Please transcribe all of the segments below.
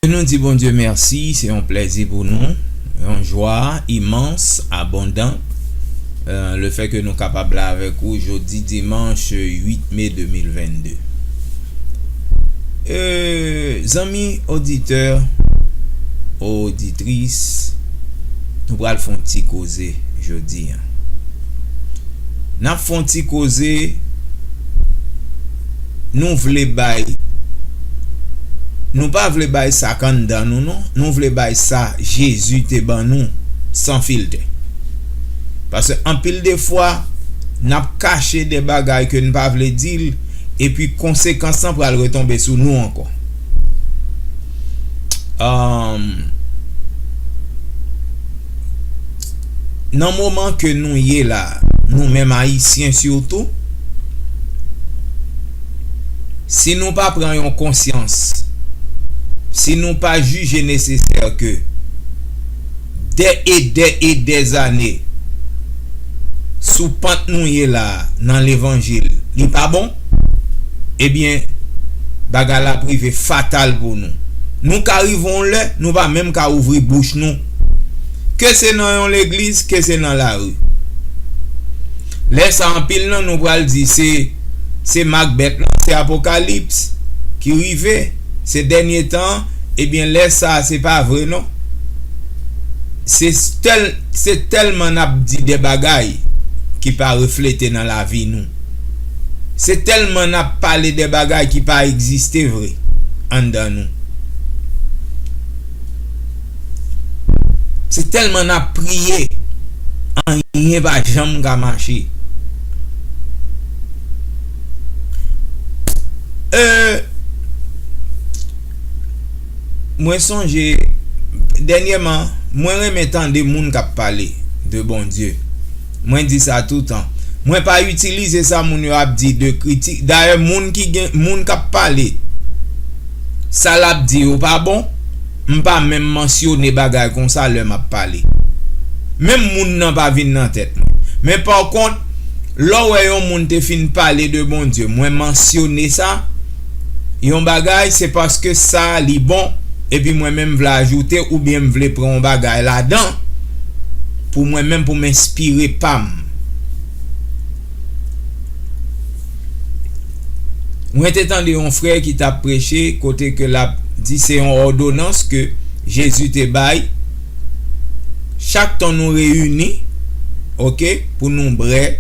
Ke nou di Bondye mèsi, se yon plèzi pou nou, yon jwa imans, abondan, lefè ke nou kapab la avèk ou jodi dimanch 8 me 2022. E, zanmi oditè, oditris, nou pral fè yon ti koze jodi an. N ap fè yon ti koze. nou vle bay nou pa vle bay sa k anndan nou non nou vle bay sa Jezi te ban nou san filtè paske anpil de fwa n ap kache de bagay ke n pa vle di l epi konsekans lan pral retonbe sou nou ankò aah. nan moman ke nou ye la nou menm ayisyen sitou si nou pa pran yon konsyans si nou pa jije nesesè ke dè e dè e dè zane sou pant nou ye la nan levanjil li pa bon ebyen bagay la ap rive fatal pou nou nou ka rive yon lè nou pa menm ka ouvri bouch nou Ke se nan yon legliz, ke se nan lari. Lè sa anpil nan nou pral di se se mak bèt lan, se apokalips ki rive, se dènye tan an, ebyen lè sa se pa vre non. Se tèlman n ap di de bagay ki pa reflete nan lavi nou. Se tèlman n ap pale de bagay ki pa egziste vre anndan nou. Se tèlman n ap priye, anyen pa janm ka mache. Mwen sonje dènyèman, mwen renmen tande moun k ap pale de Bondye. Mwen di sa toutan. Mwen pa itilize sa moun yo ap di de kritik. Dayè moun ki gen, moun k ap pale, sa l ap di yo pa bon, m pa menm mansyone bagay konsa lè m ap pale. Menm moun nan pa vin nan tèt mwen. Men pakont, lè w wè yon moun te fin pale de Bondye, mwen mansyone sa, yon bagay se paske sa li bon epi mwen menm vle ajoute oubyen m vle pran yon bagay ladan pou mwen menm pou m enspire pa m mwen te tande yon frè ki tap preche kote ke lap di se yon òdonans ke Jezi te bay chak tan nou reyini ok pou nou brè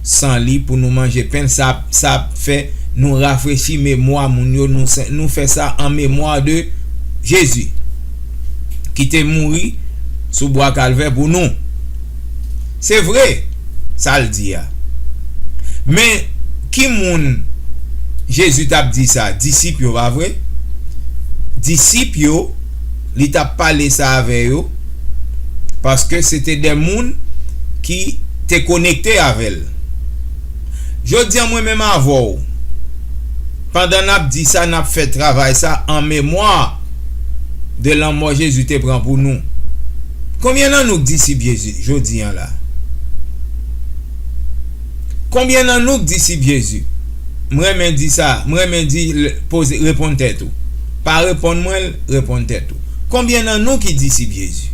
san li pou nou manje pen sa. Sa ap fè nou rafrechi memwa moun yo, nou fè sa an memwa de Jezi, ki te mouri sou bwa Kalvè pou nou. Se vre sa l di a. Men, ki moun Jezi t ap di sa? Disip yo, pa vre? Disip yo, li t ap pale sa avè yo, paske se te de moun ki te konekte avè l. Jodi an mwen menm avè w, pandan n ap di sa, n ap fè travay sa an memwa de lanmò Jezi te pran pou nou. Konbyen nan nou k disip Jezi jodi an la? Konbyen nan nou k disip Jezi? M renmen di sa, m renmen di poze, reponn tèt ou. Pa reponn mwen l, reponn tèt ou. Konbyen nan nou ki disip Jezi?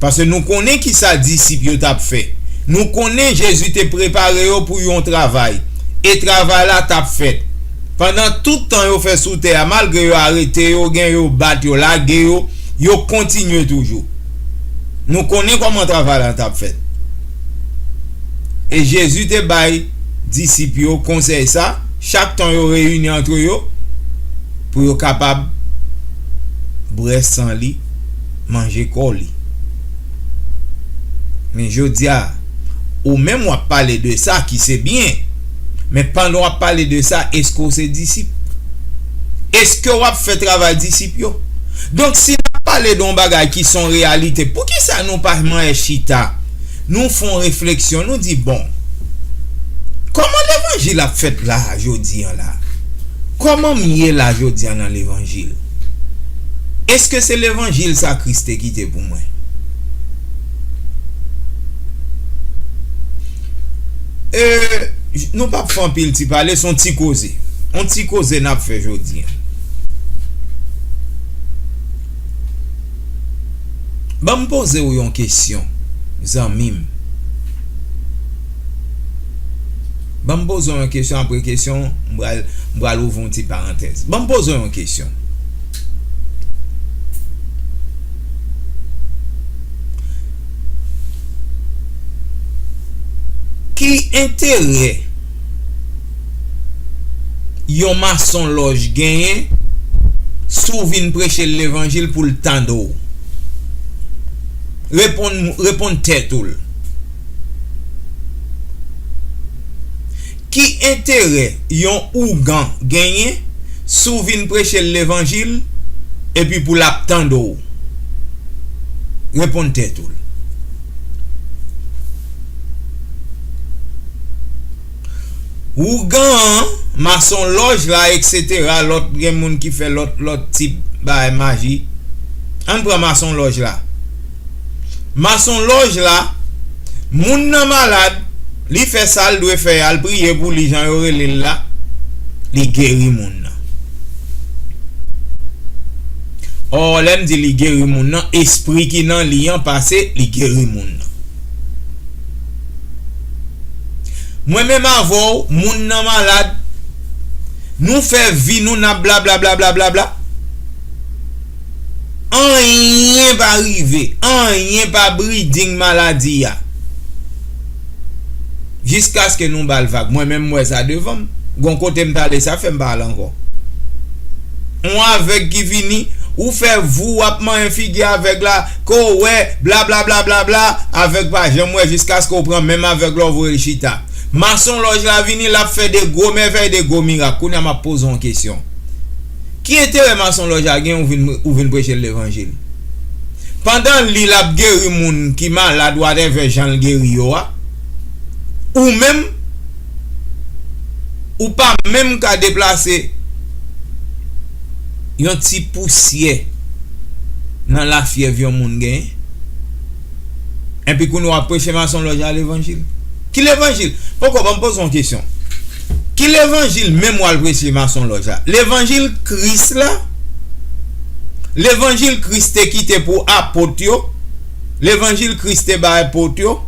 Paske nou konnen ki sa disip yo t ap fè. Nou konnen Jezi te prepare yo pou yon travay, e travay la t ap fèt. Pandan tout tan yo fè sou tè a, malgre yo arete yo, gen yo bat yo, lage yo, yo kontinye toujou. Nou konnen kòman travay la t ap fèt. E Jezi te bay disip yo konsèy sa. Chak ton yo reyini antre yo pou yo kapab bwè san li, manje kò li. Men jodi a, ou menm w ap pale de sa ki se byen, men pandan w ap pale de sa, èske w se disip? Èske w ap fè travay disip yo? Donk si n ap pale de yon bagay ki se yon reyalite, poukisa nou pa manyen chita? Nou fon refleksyon nou di bon Koman levanjil ap fèt la jodi an la? Koman m ye la jodi an nan levanjil? Eske se levanjil sa Kris te kite pou mwen? E Nou pap fè anpil ti pale son ti koze On ti koze nap fè jodi an. Banm poze w yon kesyon zanmi m. Banm poze w yon kesyon apre kesyon m pral ouvri yon ti parantèz. Banm poze w yon kesyon. Ki enterè. yon masonlòj genyen si w vin preche l levanjil pou l tande w? Reponn tèt ou l. Ki enterè yon ougan genyen si w vin preche l levanjil epi pou l ap tande w? Reponn tèt ou l. Ougan an, masonlòj la eksetera lòt gen moun ki fè lòt lòt tip bagay maji Ann pran masonlòj la Masonlòj la Moun nan malad li fè sa l dwe fè a l priye pou li jan yo rele l la li geri moun nan Ò lè m di li geri moun nan espri ki nan li an pase li geri moun nan. Mwen menm avè w moun nan malad nou fè vi nou nap blablablablabla anyen pa rive anyen pa breeding maladi a jiskaske nou bal vag mwen menm m wè sa devan m gon kote m t ale sa fèm pa al ankò on avèg ki vini ou fè vou wap manyen figi avèg la. Ko wè blablablablabla avèg pa janm wè jiskaske ou pran menm avèg la ou voyel chita mason lòj la vini lap fè de gwo mèvèy de gwo mirak kounya map poze yon kesyon ki enterè mason lòj la gen ou vin prechel levanjil pandan li lap geri moun ki malad watèvè janl geri yo a ou menm ou pa menm ka deplase Yon ti pousyè nan lafyèv yon moun gen. Enpi kounye w ap preche masonlòj a levanjil. Ki levanjil? Poko ban m poze w yon kesyon. Ki levanjil menm w al preche masonlòj a? Levanjil Kris la? Levanjil Kris te kite pou apot yo? Levanjil Kris te bay apot yo?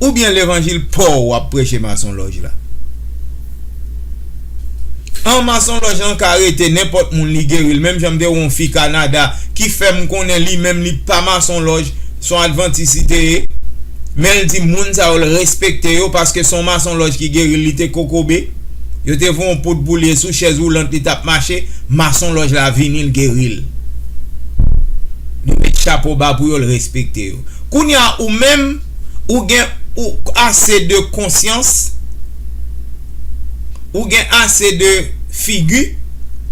Oubyen levanjil pa w w ap preche masonlòj la? An masonlòj lan ka rete nenpòt moun li geri l menm jan m te wè yon fi Kanada ki fè m konnen li menm li pa masonlòj se yon advantis li te ye men l di moun sa yo l respekte yo paske se yon masonlòj ki geri l li te kokobe yo te voye yon poud pou li e sou chèz woulant li t ap mache masonlòj la vini l geri l li met chapo ba pou yo l respekte yo kounye a ou menm. Ou gen ou ase de konsyans, ou gen ase de figi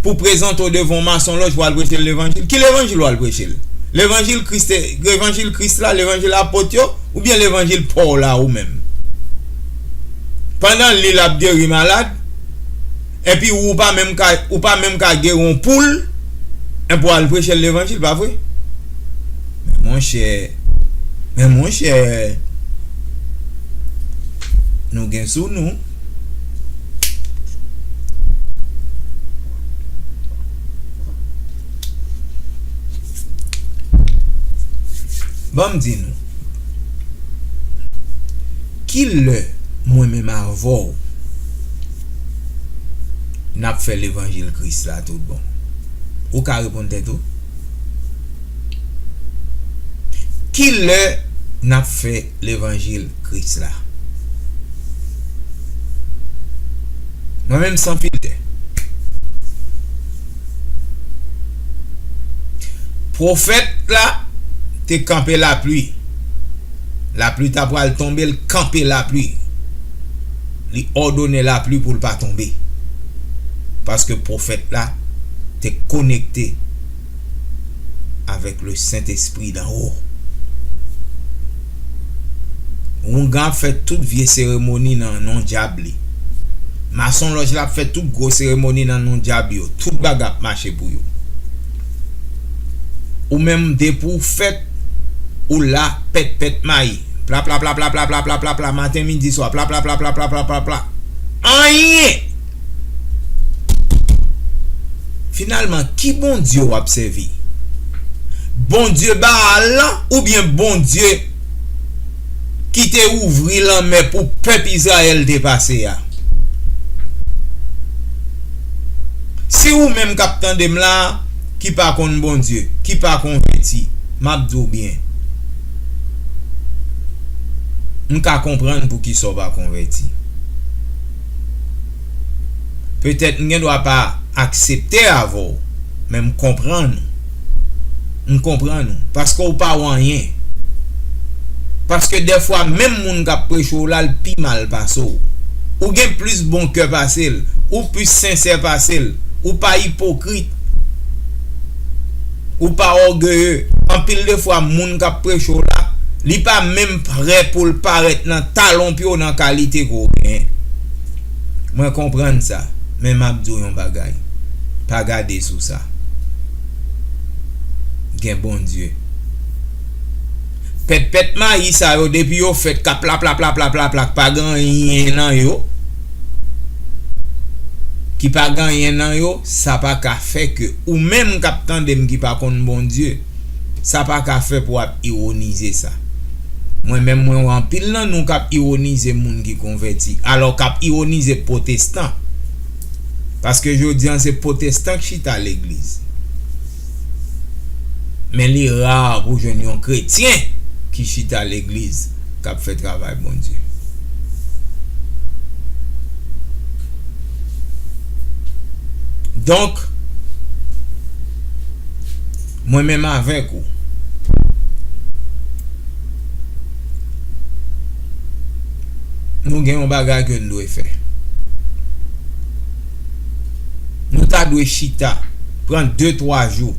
pou prezante w devan yon masonlòj pou w al preche l levanjil. Ki levanjil ou al preche l? Levanjil Kris te, levanjil Kris la, levanjil apot yo, oubyen levanjil pa w la ou menm? Pandan li l ap geri malad, Epi ou pa menm ka ou pa menm ka gere yon poul eh pou al prechel levanjil pa vre men monchè men monchè nou gen sou nou. Banm di nou kilè mwen menm avèw. n ap fè levanjil Kris la toutbon? Ou ka reponn tèt ou. Ki lè n ap fè levanjil Kris la? Mwen menm san filtè. Pwofèt la te kanpe lapli. Lapli ta pral tonbe, l kanpe lapli. li òdonnen lapli pou l pa tonbe, paske pwofèt la te konekte avèk Lesentespri d'en haut. Houngan ap fè tout vye seremoni nan non dyab li. Masonlòj la ap fè tout gwo seremoni nan non dyab yo. Tout bagay ap mache pou yo. Ou menm depi w fèt, ou la pètpèt mayi. Plaplaplaplaplaplaplaplapla maten midi swa plaplaplaplaplaplaplapla anyen! Finalman ki Bondye w ap sèvi? Bondye Baal lan oubyen Bondye ki te ouvri lanmè pou pèp Izrayèl te pase a? Si ou menm k ap tande m la ki pa konn Bondye, ki pa konvèti, m ap di w byen. M ka konprann poukisa w pa konvèti. Petèt m gen dwa pa aksepte avè w, men m konprann ou. M konprann ou, paske w pa w anyen. Paske dèfwa menm moun k ap preche w la l pi mal pase w. Ou gen plis bon kè pase l, ou plis sensè pase l, ou pa ipokrit, Ou pa ògeye. Anpil de fwa moun k ap preche w la, li pa menm prè pou l parèt nan talon pye w nan kalite ke w genyen. Mwen konprann sa. Men m ap di w yon bagay, pa gade sou sa. Gen Bondye. Pètpèt mayi sa yo depi yo fèt k ap laplaplaplaplak pa gen anyen nan yo. ki pa gen anyen nan yo, sa pa ka fè ke ou menm k ap tande m ki pa konn Bondye, sa pa ka fè pou w ap iwonize sa. Mwen menm mwen wè anpil nan nou k ap iwonize moun ki konvèti, alò k ap iwonize pwotestan, paske jodi an se pwotestan k chita legliz. Men li ra pou jwenn yon kretyen ki chita legliz k ap fè travay Bondye. Donk, mwen menm avèk ou, nou gen yon bagay ke n dwe fè. Nou ta dwe chita, pran de twa jou,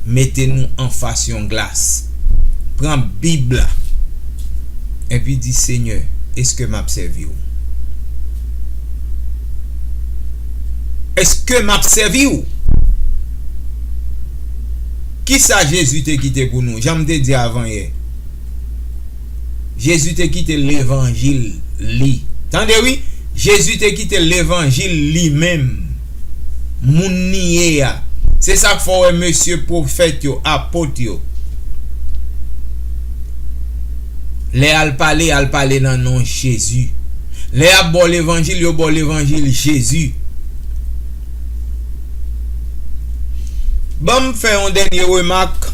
mete nou anfas yon glas, pran Bib la, enpi di, Senyè, èske m ap sèvi w? Èske m ap sèvi w? Kisa Jezi te kite pou nou? Jan m te di avansye. Jezi te kite levanjil li. Tande wi, Jezi te kite levanjil li menm, moun li ye a. Se sa k fè w wè mesye pwofèt yo, apot yo, lè y al pale, y al pale nan non Jezi. Lè y ap ba w levanjil, yo ba w levanjil Jezi. Ban m fè yon dènye remak.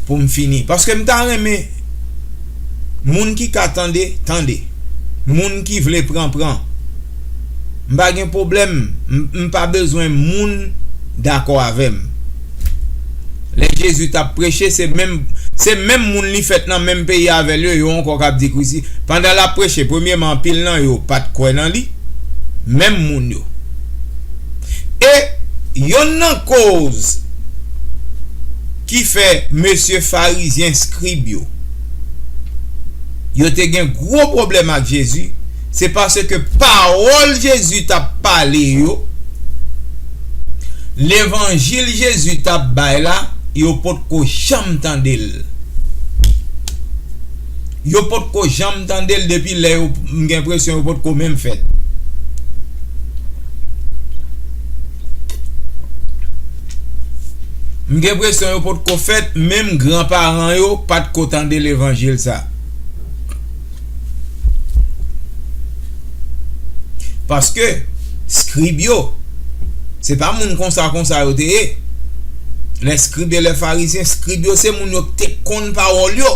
poum fini paske m ta renmen moun ki ka tande tande moun ki vle pran pran m pa gen pwoblèm m pa bezwen moun dakò avèm lè Jezi tap preche se menm moun li fèt nan menm peyi avèl yo yo ankò kap di krisi pandan lap preche premyèman anpil nan yo pat kwè nan li menm moun yo e yonn nan koz Ki fè, mesye Farizyen skrib yo, yo te gen gwo pwoblèm ak Jezi, se paske pawòl Jezi t ap pale yo, levanjil Jezi t ap bay la, yo potko janm tande l. Yo pot ko janm tande l depi lè yo m gen enpresyon yo pot ko menm fèt. M gen enpresyon yo pot ko fèt menm gran paran yo pat ko tande levanjil sa. Paske, skrib yo, se pa moun konsa konsa yo te ye. Lèskribe e lèfarizyen, skrib yo se moun yo ki te konn pawòl yo.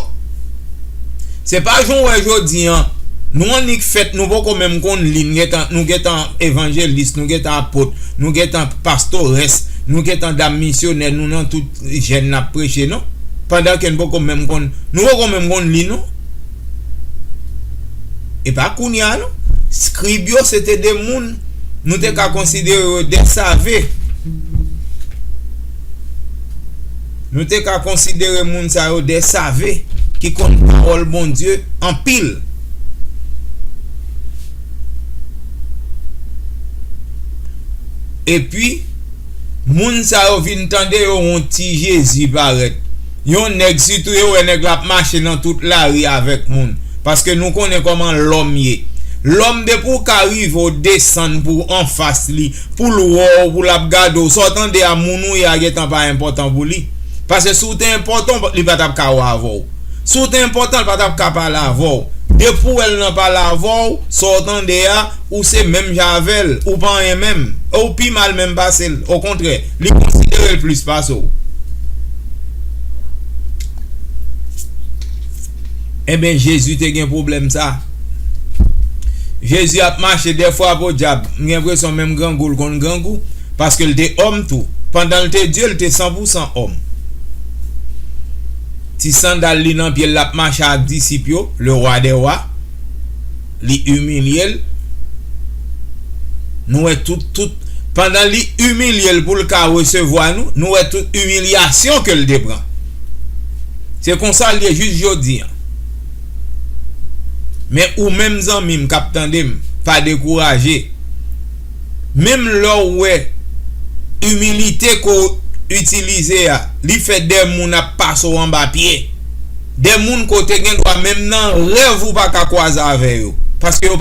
Se pa jan w wè jodi an, nou annik fèt, nou poko menm konn li, nou gen tan evanjelis, nou gen tan apot, nou gen tan pastorès, nou gen tan dam misyonè, nou nan tout jèn n ap preche non. Pandan ke n poko menm konn, nou poko menm konn li non. E pa kounye a non. Skrib yo se te de moun nou te ka konsidere yo de save. Nou te ka konsidere moun sa yo de save ki konn pawòl Bondye anpil. Epi, moun sa yo vin tande yo yon ti Jezi parèt. Yon nèg sitou yo wè nèg la ap mache nan tout lari avèk moun paske nou konnen kòman lòm ye lòm depi ou ka rive ou desann pou w anfas li pou l wè w pou l ap gade w sa w tande a moun ou ye a gentan pa enpòtan pou li paske si w te enpòtan w li pa t ap ka wè avè w si w te enpòtan li pa t ap ka pale avè w depi ou wè l nan pale avè w sa w tande a ou se menm jan avè l ou pa anyen menm e ou pi mal menm pase l okontrè Li konsidere l plis pase w. Enben, Jezi te gen pwoblèm sa a. Jezi ap mache dèfwa podyab, m gen enpresyon menm grangou l konn grangou, paske l te òm tou. Pandan l te Dye, l te sanpousan òm. Ti sandal li nan pye l, l ap mache ak disip yo, Lewadèwa. li imilye l nou wè tout tout pandan li imilye l pou l ka resevwa nou nou wè tout imilyasyon ke l te pran se konsa l ye jis jodi an men ou menm zanmi m kap tande m pa dekouraje menm lè w wè imilite ke w itilize a li fè de moun ap pase w anba pye de moun ke w te gendwa menm nan rèv ou pa ka kwaze avè yo paske yo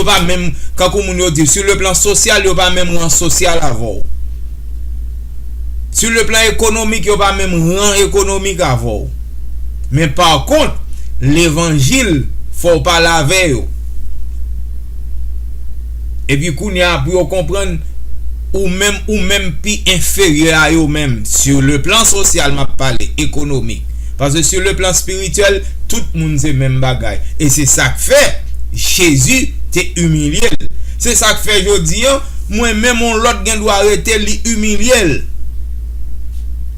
pa menm kankou moun yo di sou le plan sosyal yo pa menm ran sosyal avè w sou le plan ekonomik yo pa menm ran ekonomik avè w men pa kont levanjil fò w pale avè yo Epi kounya pou yo konprann ou menm ou menm pi enferyè a yo menm sur le plan social map pale ekonomik paske sur le plan spirituel tout moun se menm bagay e se sak fè Jezi te imilye l se sak fè jodi an mwen menm on lòt gen dwa rete li imilye l.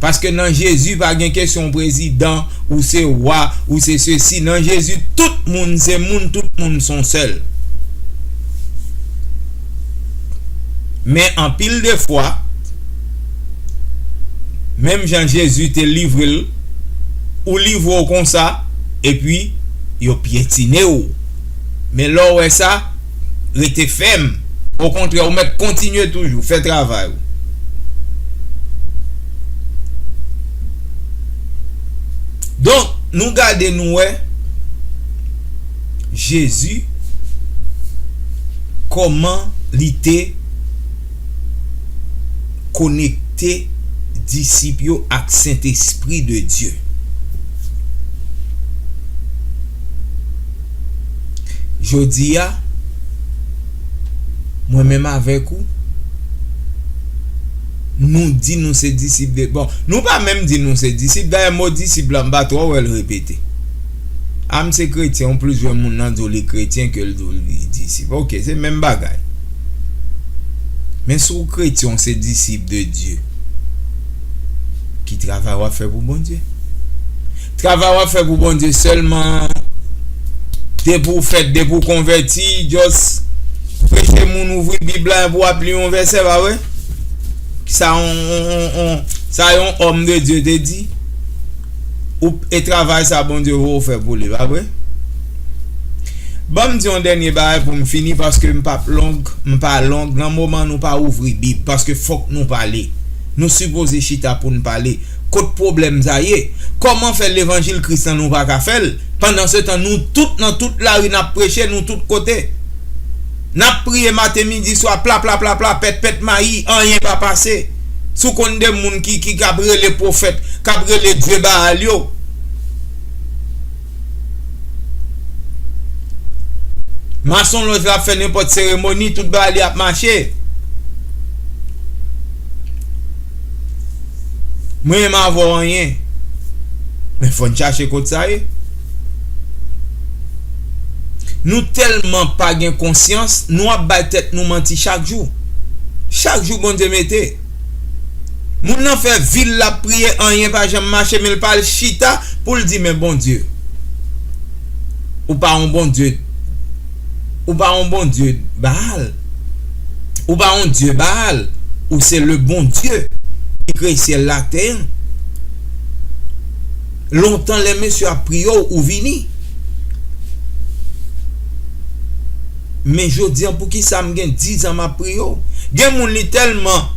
paske nan jezi pa gen kesyon ou prezidan ou se wa ou se sesi nan jezi tout moun se moun tout moun son sèl men anpil de fwa menm jan jezi te livrel ou livre w konsa epi yo pyetine w men lè w wè sa rete fèm. Okontrè ou mèt kontinye toujou fè travay ou. Donk nou gade nou wè Jezi kòman li te konekte disip yo ak Sentespri de Dye. Jodi a, mwen menm avèk ou, nou di nou se disip de, bon, nou pa menm di nou se disip, dayè mo disip la m pa twò wè l repete. A m se kretyen, ou plis wè moun nan di w li kretyen ke l di w li disip. Ok, se menm bagay. Men si w kretyen w se disip de Dye, ki travay w ap fè pou Bondye? Travay wap fè pou Bondye sèlman an depi w fèt depi w konvèti just preche moun ouvri bib la epi wap li yon vèsè pa vre sa yon sa yon homme de Dieu te di ou p e travay sa Bondye vè w fè pou li pa vre banm di yon dènye bagay pou m fini paske m pap long m pa long nan moman nou pa ouvri bib paske fòk nou pale nou sipoze chita pou n pale. Kot pwoblèm sa ye? Kòman fè levanjil Kris lan nou pa ka fè l? Pandansetan nou tout nan tout lari n ap preche, nou tout kote n ap priye maten midi swa, plaplaplapla, pètpèt mayi, anyen pa pase. Si w konn de moun ki ap rele pwofèt, k ap rele dye Baal yo. Masonlòj la ap fè nenpòt seremoni, tout bagay li ap mache. Mwen menm avè w anyen. Men fò n chache kot sa ye. Nou tèlman pa gen konsyans, nou ap bay tèt nou manti chak jou. Chak jou Bondye mete. Moun nan fè vil lap priye anyen pa janm mache menl pa al chita poul di men Bondye ou pa yon Bondye ou pa yon Bondye Baal ou pa yon Dye Baal ou se le Bondye ki kreye syèl la tè an lontan lè mesye ap priye w ou vini. Men jodi an poukisa m gen 10 ans map priye w? Gen moun li telman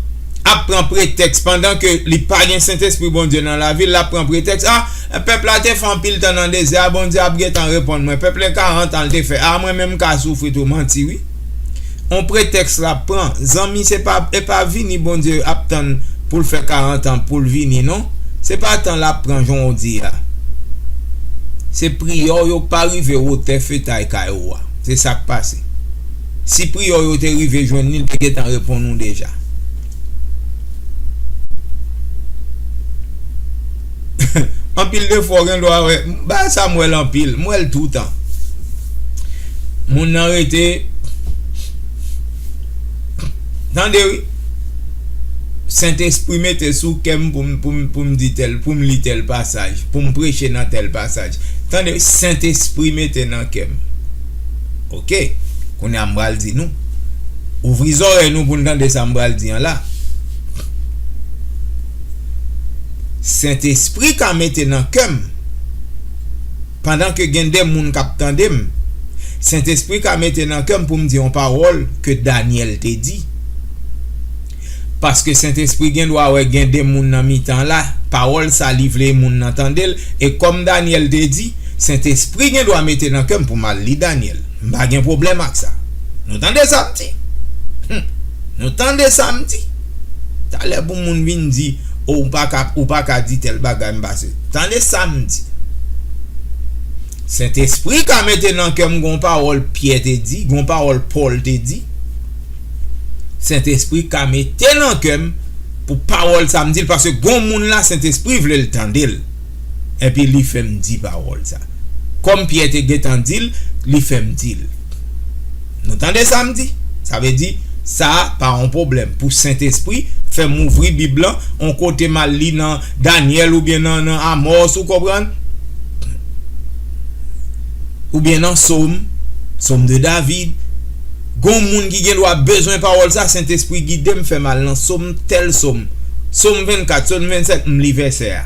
ap pran pretèks pandan ke li pa gen sentespri Bondye nan lavi l lap pran pretèks ah pèp la te fè anpil tan nan dezè a Bondye ap gentan reponn mwen pèp lè 40 ans l te fè ah mwen menm m ka soufri tou manti wi on pretèks lap pran zanmi se pa e pa vini Bondye ap tann pou l fè 40 ans pou l vini non se pa tan lap pran jan w di a se priyè w yo k pa rive wotè fetay kay ou a. Se sa k pase. Si priyò yo te rive jwenn li, li te gentan reponn ou deja. Anpil de fwa w gen dwa wè, bagay sa m wè l anpil, m wè l toutan. Moun nan rete. Tande wi. Sentespri mete sou kè m pou m di tèl, pou m li tèl pasaj, pou m preche nan tèl pasaj. Tande wi, Sentespri mete nan kè m. Ok. Kounye a m pral di nou. Ouvri zòrèy nou pou n tande sa m pral di an la. Sentespri ka mete nan kè m. pandan ke gen de moun kap tande m, Sentespri ka mete nan kè m pou m di yon pawòl ke Daniel te di. Paske Sentespri gen dwa wè gen de moun nan mitan la, pawòl sa li vle moun nan tande l, e kòm Daniel te di, Sentespri gen dwa mete nan kè m pou m al li Daniel. M pa gen pwoblèm ak sa. Nou tande sa m di? Hum! Nou tande sa m di? Talè pou moun vin di oh ou paka ou paka di tèl bagay m pa se tande sam di Sentespri ka mete nan kèm gon pawòl Pyè te di gon pawòl Pòl te di Sentespri ka mete nan kèm pou pawòl sa m dil paske gon moun la Sentespri vlel tandel. Epi li fè m di pawòl sa. Kòm Pyè te gentan di l, li fè m di l, Nou tande sa m di? Sa vle di, sa a pa yon pwoblèm pou Sentespri fè m ouvri Bib lan yon kote m al li nan Dànyèl oubyen nan Amòs, ou konprann? Oubyen nan Som, Som de David. Gen yon moun ki gendwa bezwen pawòl sa, Sentespri gide m, fè m al nan Som, tèl Som, Som 24, Som 25, m li vèsè a.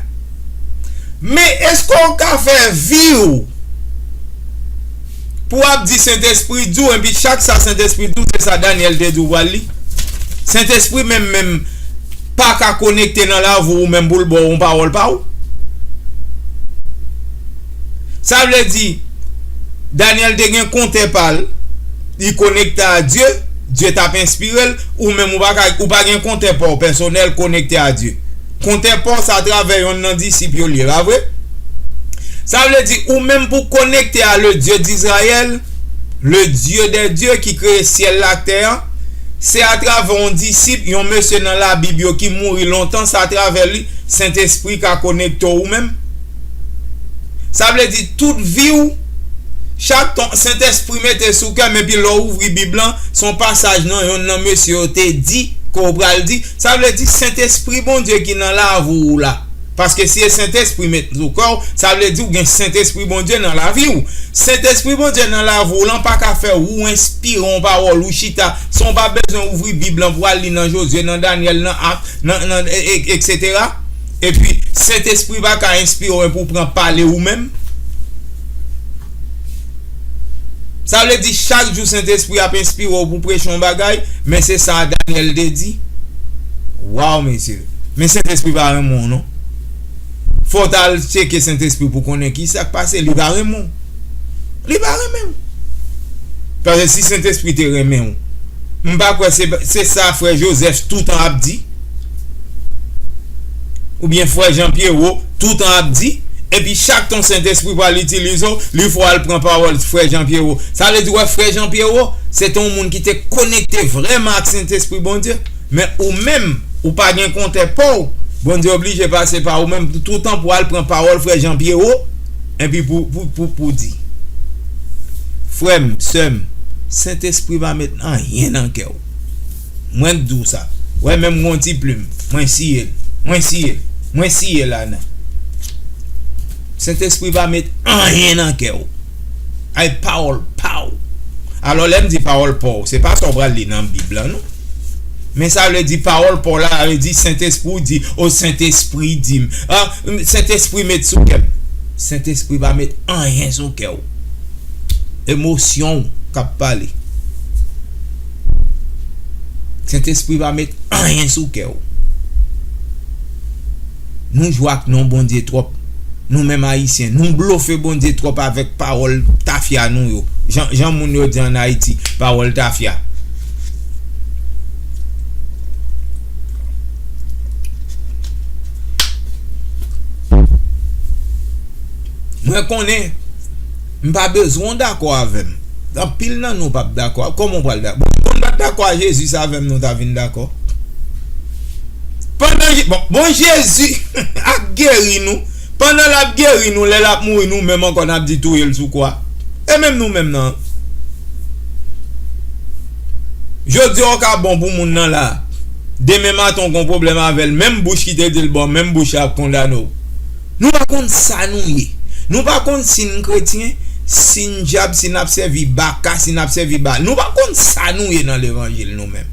Men eske w ka fè vi w pou w ap di Sentespri di w enpi chak sa Sentespri di w se sa Daniel te di w pral li? Sentespri menm menm pa ka konekte nan lavi w ou menm pou l ba w yon pawòl pa w? Sa vle di Daniel te gen kontè pa l li konekte a Dye, Dye t ap enspire l, ou menm ou pa gen kontè pa w pèsonèl konekte a Dye? Kontè pa w se atravè yonn nan disip yo l ye pa vre? Sa vle di ou menm pou w konekte a Le Dieu d'Israël, Le Dieu des dieux ki kreye syèl la ak tè a, se atravè yon disip, yon mesye nan labib yo ki mouri lontan se atravè li Sentespri ka konekte w ou menm? Sa vle di tout vi w chak ton Sentespri mete sou kè m epi lè w ouvri bib lan se yon pasaj nan yonn nan mesye yo te di ke w pral di Sa vle di sentespri Bondye ki nan lavi w la. Paske si e sentespri met sou kè w, sa vle di w gen sentespri Bondye nan lavi w. Sentespri Bondye nan lavi w lan pa ka fè ou enspire yon pawòl ou chita san w pa bezwen ouvri bib lan pou w al li nan Jozye, nan Danyèl, nan Ak, nan, nan, etc. Epi sentespri pa ka enspire w epi w pran pale ou menm. Sa vle di chak jou Sentespri a ap enspire w pou preche yon bagay, men se sa Daniel te di. Waw mesye, men Sentespri pa renmen w non. Fò w ta al tcheke Sentespri pou konnen ki sa k pase, li pa renmen w. Li pa renmen w. Paske si Sentespri te renmen w, m pa kwè se sa frè Joseph toutan ap di. Oubyen frè Jean Pierrot toutan ap di, epi chak tan Sentespri pral itilize w, li fè w al pran pawòl frè Jean Pierrot. Sa vle di wè frè Jean Pierrot, se te yon moun ki te konekte vrèman ak Sentespri Bondye. Men ou menm, ou pa gen kontè pa w, Bondye oblije pase pa ou menm toutan pou al pran pawòl frè Jean Pierrot, epi pou w di. Frè m, sè m, Sentespri pa met anyen nan kè w. Mwen k di w sa. Wè menm gon ti plim. Mwen siye l. Mwen siye l. Mwen siye la nan. Sentespri pa met anyen nan kè w. Ay pawòl pa w. Alò lè m di pawòl pa w se pa sa w pral li nan bib lan non. Men sa vle di pawòl pa w la sa vle di sentespri w di o sentespri di m. Sentespri met sou kè m. Sentespri pa met anyen sou kè w. Emosyon w kap pale. Sentespri pa met anyen sou kè w. Nou jwe ak non Bondye twòp. Nou menm ayisyen nou blofe Bondye twòp avèk pawòl tafya nou yo. Jan moun yo di an Ayiti pawòl tafya. Mwen konnen m pa bezwen w dakò avè m. Anpil nan nou pap dakò. Kòman w pral dakò? Bon, si moun pa t dakò a Jezi, se avè m nou ta vin dakò. Pandan, bon, bon Jezi ap geri nou, pandan l ap geri nou, lè l ap mouri nou menm ankò n ap di touye l sou kwa. E menm nou menm nan? Jodi a w ka bon pou moun nan la, demen maten w gen yon pwoblèm avè l, menm bouch ki te di l bon, menm bouch la ap kondane w. Nou pa konn sa nou ye. Nou pa konn si n kretyen, si n dyab, si n ap sèvi Baka, si n ap sèvi Baal. Nou pa konn sa nou ye nan levanjil nou menm.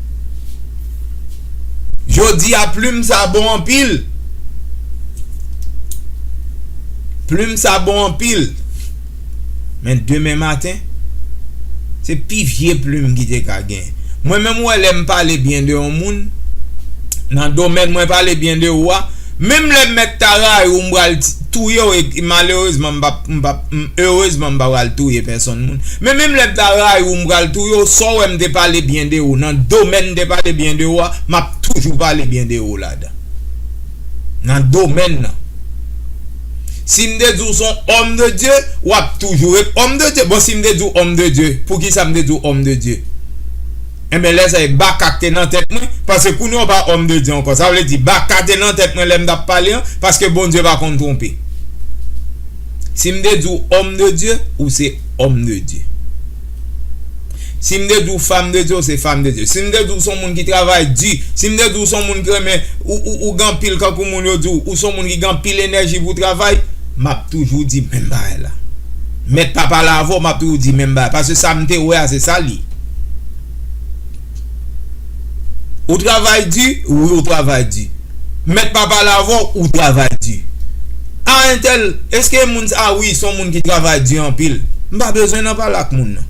Jodi a plim sa bon anpil. Plim sa bon anpil. Men demen maten, se pi vye plim ki te ka gen. Mwen menm wè lè m pale byen de yon moun, nan domèn mwen pale byen de ou a, menm lè m mèt ta rayi w m pral touye w e malerezman m pap, m pap, m erezman m pa pral touye pèsonn moun, men menm lè m ta rayi w m pral touye w, sa w wè m te pale byen de ou nan domèn m te pale byen de ou a, m ap toujou pale byen de ou ladan. nan domèn nan. Si m te di w s on òm de Dye, w ap toujou ret òm de Dye. Bon, si m te di w òm de Dye, poukisa m te di w òm de Dye? Enben, lè sa a e Baka k te nan tèt mwen, paske kounye a w pa òm de Dye ankò. Sa vle di, Baka te nan tèt mwen lè m t ap pale an, paske Bondye pa konn twonpe. Si m te di w òm de Dye, ou se òm de Dye. Si m te di w fam de Dye, w se fam de Dye. Si m te di w s on moun ki travay di, si m te di w s on moun k renmen, ou gen anpil kankou moun yo di w, ou s on moun ki gen anpil enèji pou w travay, m ap toujou di menm bagay la. Mèt pa pale avè w, m ap toujou di menm bagay la. Paske sa m te wè a, se sa l ye. Ou travay di, wi ou travay di. Mèt pa pale avè w, ou travay di. A entèl, èske moun sa a, wi, se yon moun ki travay di anpil. M pa bezwen nan pale ak moun nan.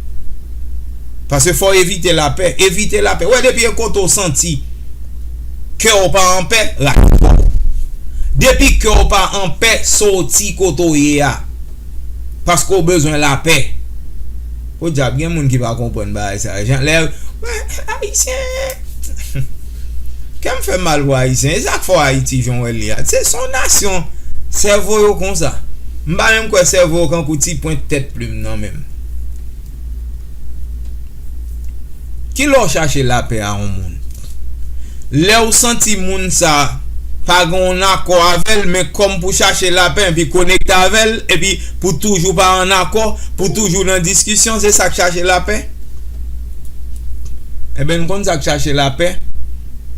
Paske fò w evite lapè. Evite lapè. Ou wè depi yon kote ou santi kè w pa anpè, rale kò w. Depi kè w pa anpè, soti kote ou ye a. Paske ou bezwen lapè. Podyab gen moun ki pa konprann bagay sa yo jan lè yo wè ayisyen kèm fèm mal pou ayisyen e sak fò ayiti jan w wèl ye a se son nasyon sèvo yo konsa m pa menm kwè sèvo yo kankou ti pwent tèt plim nan menm kilè w chache lapè a yon moun. lè ou santi moun sa a pa gen yon akò avè l men kòm pou chache lapè epi konekte avè l epi pou toujou pa an akò pou toujou nan diskisyon se sa k chache lapè ebyen n konn sa k chache lapè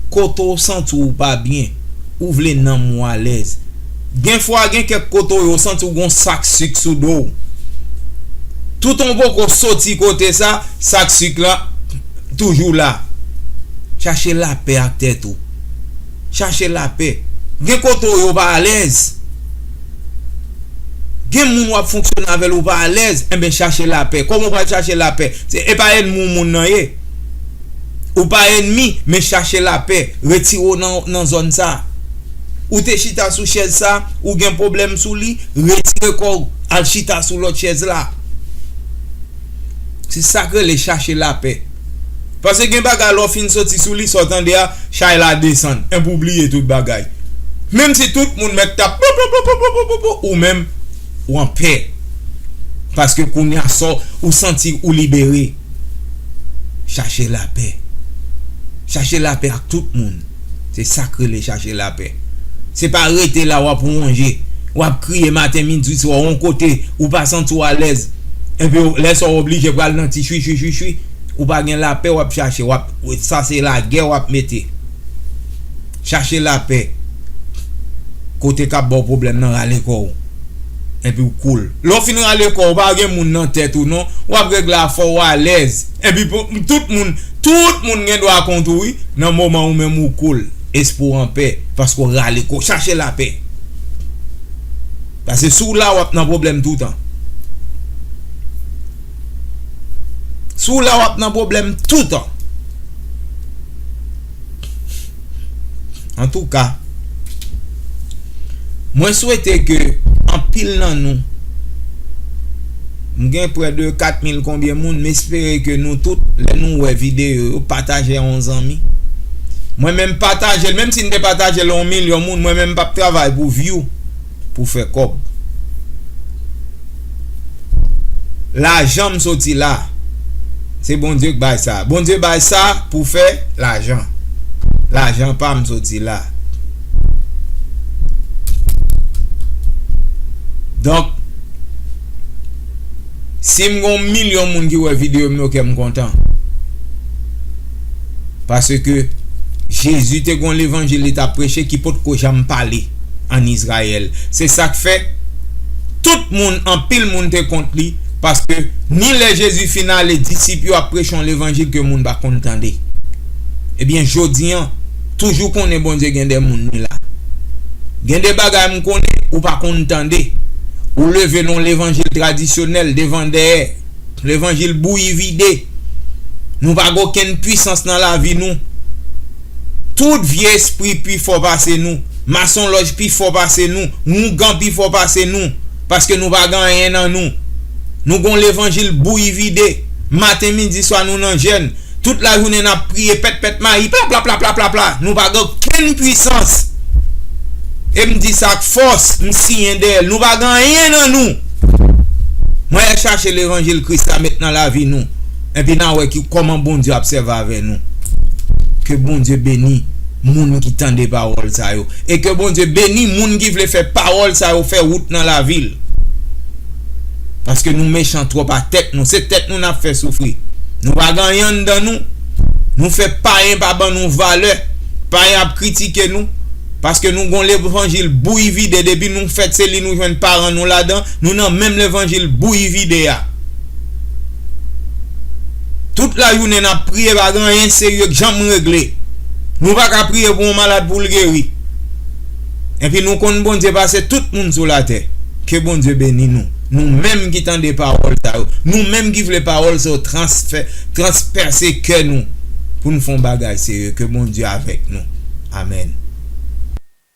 kote ou santi w pa byen ou vle nanm ou alèz Gen fwa gen kèk kote w santi w gen yon sak sik sou do w. Toutan w poko soti kote sa, sak sik la toujou la. Chache lapè ak tèt ou. Chache lapè. Gen kote w yo pa alèz. Gen moun wap fonksyone avè l ou pa alèz. Enben chache lapè. Kòman w pral chache lapè? Se e pa ènmi w moun nan ye. Ou pa ennmi, men chache lapè, retire w nan zòn sa. Ou te chita sou chèz sa, ou gen pwoblèm sou li, retire kò w, al chita sou lòt chèz la. Se sa k rele chache lapè. Paske gen bagay lè w fin soti sou li, sa w tande a, chay la desann, enpi w bliye tout bagay. Menm si tout moun mèt tap poupoupoupoupoupou, ou menm, w anpè. Paske kounye a, sa w, ou santi ou libere. Chache lapè. Chache lapè ak tout moun. Se sa k rele chache lapè. Se pa rete la w ap wonje, w ap kriye maten, midi, swa yon kote ou pa santi w alèz. Epi lè sa w oblije pral nan ti chwichwi chwichwi. Ou pa gen lapè w ap chache. Sa se lagè w ap mete. Chache lapè. Kote k ap ba w pwoblèm nan rale kò w. epiw cool lè w fin rale kò w pa gen moun nan tèt ou non wap regle afè w alèz epi tout moun tout moun gen dwa kont ou wi nan moman ou menm ou cool espri w anpè paske w rale kò w chache lapè pase si w la wap nan pwoblèm toutan si w la wap nan pwoblèm toutan. Antouka Mwen swete ke anpil nan nou M gen prè de 4 mil konbyen moun m espere ke nou tout lè nou wè videyo yo pataje a yon zanmi Mwen menm pataje l menm si n te pataje l a yon milyon moun mwen menm m pap travay pou vyou. pou fè kòb. Lajanm soti la. Se Bondye k bay sa. Bondye bay sa pou fè lajan. Lajan pam soti la. Donk sim gon milyon moun ki wè videom yo kèm kontan. Paske, Jezi te gen yon levanjil li t ap preche ki potko janm pale ann Izrayèl. Se sa k fè, tout moun, anpil moun te kont li, paske, ni lè Jezi fin ale, disip yo ap preche yon levanjil ke moun pa konn tande. Ebyen, jodi an, toujou konnen Bondye gen de moun li la. Gen de bagay m konnen ou pa konn tande. Ou leve l yon levanjil tradisyonèl, devan dèyè. Levanjil bouyi vide. Nou pa gen okenn pwisans nan lavi nou. Tout vye espri pi fò pase nou. Masonlòj pi fò pase nou. Wongan pi fò pase nou. Paske nou pa gen anyen nan nou. Nou gen yon levanjil bouyi vide. Maten midi swa nou nan jèn. Tout lajounen n ap priye pèt pèt mayi plaplaplaplaplapla nou pa gen okenn pwisans e m di sa ak fòs m siyen dèyè l nou pa gen anyen nan nou mwen al chache levanjil kris la met nan lavi nou epi n a wè ki kòman Bondye ap sèvi avè nou ke Bondye beni moun ki tande pawòl sa yo e ke Bondye beni moun ki vle fè pawòl sa yo fè wout nan lavi l. paske nou mechan trop a tèt nou se tèt nou nap fè soufri nou pa gen anyen anndan nou nou fè payen pa ban nou valè payen ap kritike nou paske nou gon levanjil bouyi vide depi nou fèt se li nou jwenn paran nou ladan nou nan menm levanjil bouyi vide a tout lajounen nap priye pa gen anyen serye k janm regle nou paka priye pou yon malad poul geri. Enpi nou konn Bondye pase tout moun sou latè. Ke Bondye beni nou. Nou menm ki tande pawòl sa yo. Nou menm ki vle pawòl sa yo transpèse kè nou pou nou fè yon bagay serye. Ke Bondye avèk nou. Amen.